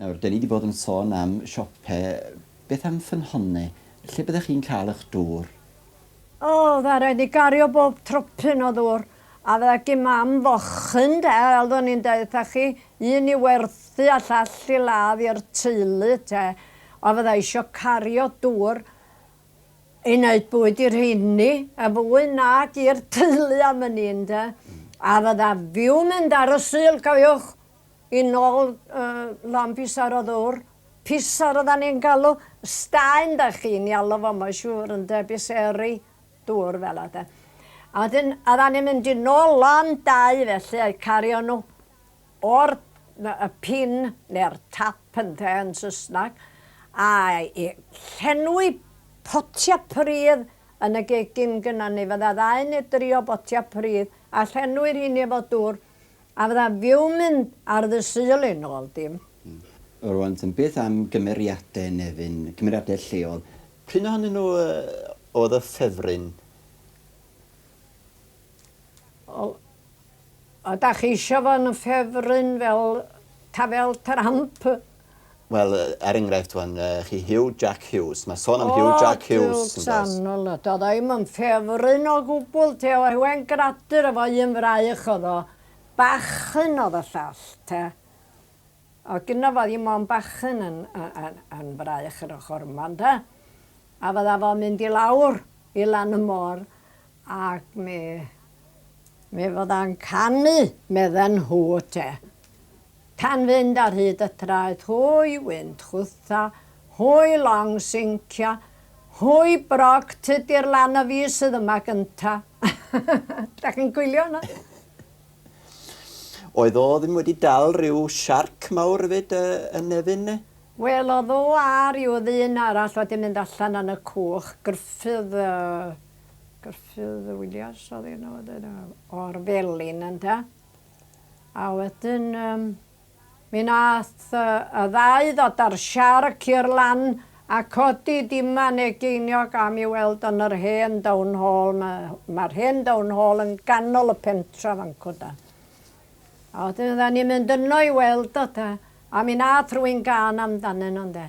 Nawr, dan ni 'di bod yn sôn am siope, beth am ffynhonnau? Lle byddech chi'n cael eich dŵr? O, fydda raid ni gario bob tropyn o ddŵr, a fydda gin Mam fochyn, 'de, fel o'n i'n deud wrtha chi, un i werthu a llall i ladd i'r teulu, 'te, ond fydda isio cario dŵr i wneud bwyd i'r rheini, yn fwy nag i'r teulu am wn i, ynde, a fydda fiw'n mynd ar y Sul, cofiwch, Yn ôl Lon Pisar o ddwr, Pisar odda ni'n galw Staen dach chi'n i alw fo mae'n siŵr ynde, Biseri dwr fela de. A wedyn odda ni'n mynd i nôl lan dau felly a'u cario nhw o'r y pin neu'r tap ynde yn Saesneg a i llenwi potia pridd yn y gegin gynna ni fydda ddau neu dri o botia pridd a llenwi rheini efo dwr A fydda fiwn mynd ar ddy Sul yn ol dim. Rwan ten beth am gymeriade Nefyn, cymeriade lleol? P'un ohonyn nhw oedd y ffefryn? Wel oda chi isio fo'n ffefryn fel Tafel Tramp Wel, er enghraifft wan, chi Hugh Jack Hughes. Mae son am oh, Hugh Jack Hughes. O, sanol y dod o'i myn ffefryn o gwbl, te o hewen gradur efo un fraich oedd o. Bachyn oedd y llall, te. O gyno fo ddim ond bachyn yn, yn, yn fraich yr ochr yma, ynda? A fydda fo'n mynd i lawr i lan y môr, Ac mi, mi fydda'n canu, medden nhw te. Pan fynd ar hyd y traeth hwy wynt chwtha, hwy long sincio, hwy brog tydi'r lan a fi sydd yma gynta. Dach chi'n coelio hwnna? Oedd o ddim wedi dal rhyw siarc mawr efyd yn Nefyn ne? Wel oedd o a ryw ddyn arall wedi mynd allan yn y cwch, Gruffydd yy. Gruffydd Williams oedd un o wedyn, o'r Felin ynde. A wedyn, um, mi nath uh, y ddau ddod ar siarc i'r lan a codi diman egeiniog am i weld yn yr hen down hall. Mae'r ma hen down hall yn ganol y pentra fan cwda. A wedyn, dda ni'n mynd yno i weld o, da. A mi nath rwy'n gan amdanyn nhw, ynde.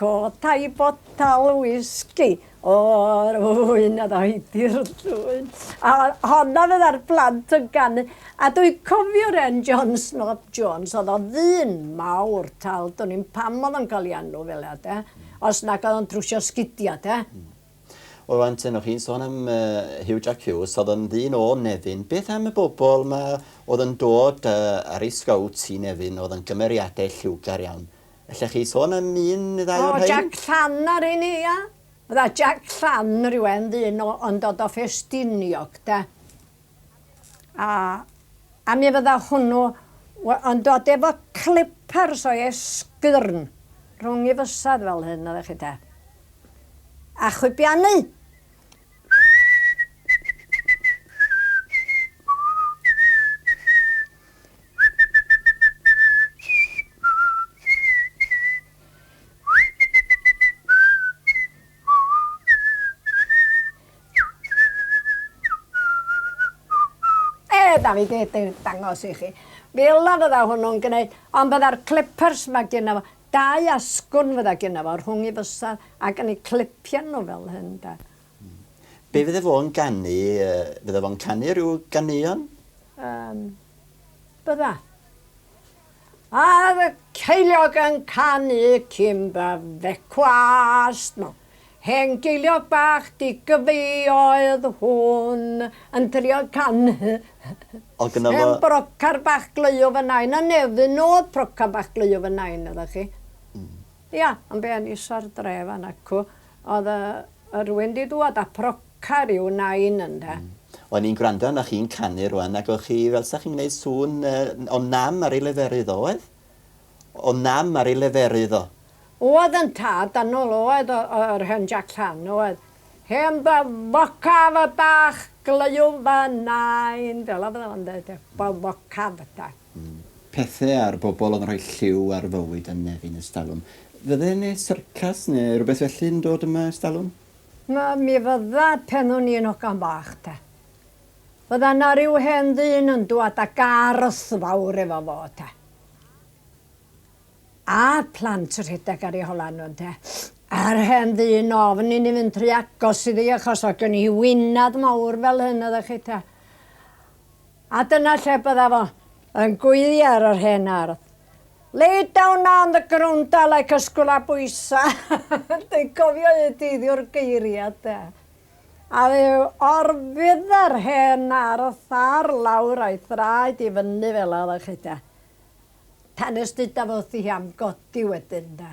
Codai botel wisgi o'r ŵyn a ddoi di'r llwyn. A honno fydda'r plant yn ganu. A dwi cofio Ren Jones, not Jones, oedd o ddyn mawr tal, dwn i'm pam oedd o'n cael ei enw fel'a de, os nag oedd o'n trwsio sgidia de. Hmm. Wel rŵan te, o' chi'n sôn am yy Hugh Jack Hughes, oedd o'n ddyn o Nefyn, beth am y bobl 'ma oedd yn dod yy ar ei sgowt i Nefyn, oedd yn gymeriadau lliwgar iawn, Ellech chi sôn am un neu ddau o'r rhain? O, Jac Llan ar un, ia. Fydda Jac Llan rhywun ddyn o, yn dod o Ffestiniog, de. A, a mi fydda hwnnw w- yn dod efo clippers o'i esgyrn rhwng ei fysedd fel hyn, oeddech chi, de. A chwibianu. da fi di dangos i chi. Fel a fydda hwnnw'n gwneud, ond fydda'r clippers mae gyda fo, dau asgwn fydda gyda fo rhwng i fysau ac yn ei clipian nhw fel hyn da. Be fydde fo'n ganu? Fydde fo'n canu rhyw ganeuon? Yym. Bydda. A'r ceiliog yn canu cyn byddecwast nhw. Hen geiliog bach digyfi oedd hwn yn trio canu. O gynno fo. Hen brocar bach gleuo fy nain a Nefyn nôd procar bach gleuo fy nain iddo chi. Ia, yn be yn isa'r dre fan acw. Oedd yy rywun 'di dŵad a proca ryw nain ynde. Hmm. O'n i'n gwrando arnoch chi'n canu rŵan ac o'ch chi fel 'sach chi'n gneud sŵn yy o nam ar ei leferydd o oedd? O nam ar ei leferydd o. Oedd yn tad annwl oedd o yy yr hen Jac Llan oedd. Hen ddy focaf y bach glyw fy nain fel 'a fydda fo'n deud e. Fy focaf de. Pethau a'r bobl oedd yn rhoi lliw ar fywyd a nefyn estalwm. Fydde yne syrcas neu rhywbeth felly yn dod yma estalwm? Na, mi fydda, pen o'n i'n ogan bach te. Fydda 'na ryw hen ddyn yn dwad â garth fawr efo fo te. A plant rhedeg ar eu holau nhw ynte. A'r hen ddyn ofn i ni fynd rhy agos iddi achos oedd gen hi wynad mawr fel hyn oeddech chi te. A dyna lle bydda fo, yn gweiddi ar yr hen ardd. Lay down on the grounda like a sgwlabwysa! Dwi'n cofio un dyddiwr geiria de. A fe orfudda'r hen ardd ar lawr a'i thraed i fyny fela, wyddoch chi de. Tan nes duda fo wrthi hi am godi wedyn de.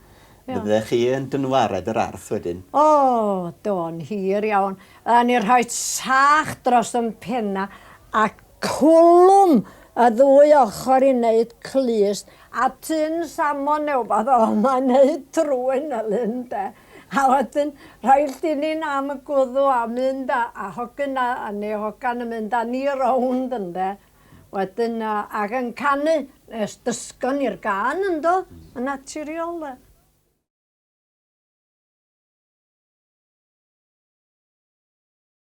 Iawn. Fyddech chi yn dynwared yr arth wedyn. O, do'n hir iawn. Yn ni rhoi sach dros yn penna a cwlwm y ddwy ochr i wneud clust a tun samon neu wbath o yma i wneud trwyn y lyn de. A wedyn rhoi llinin am y gwddw a mynd a, a hogyn a, a neu hogan yn mynd a ni rownd ynde. Wel dyna, ac yn canu, nes dysgon ni'r gân yndo, yn naturiol de.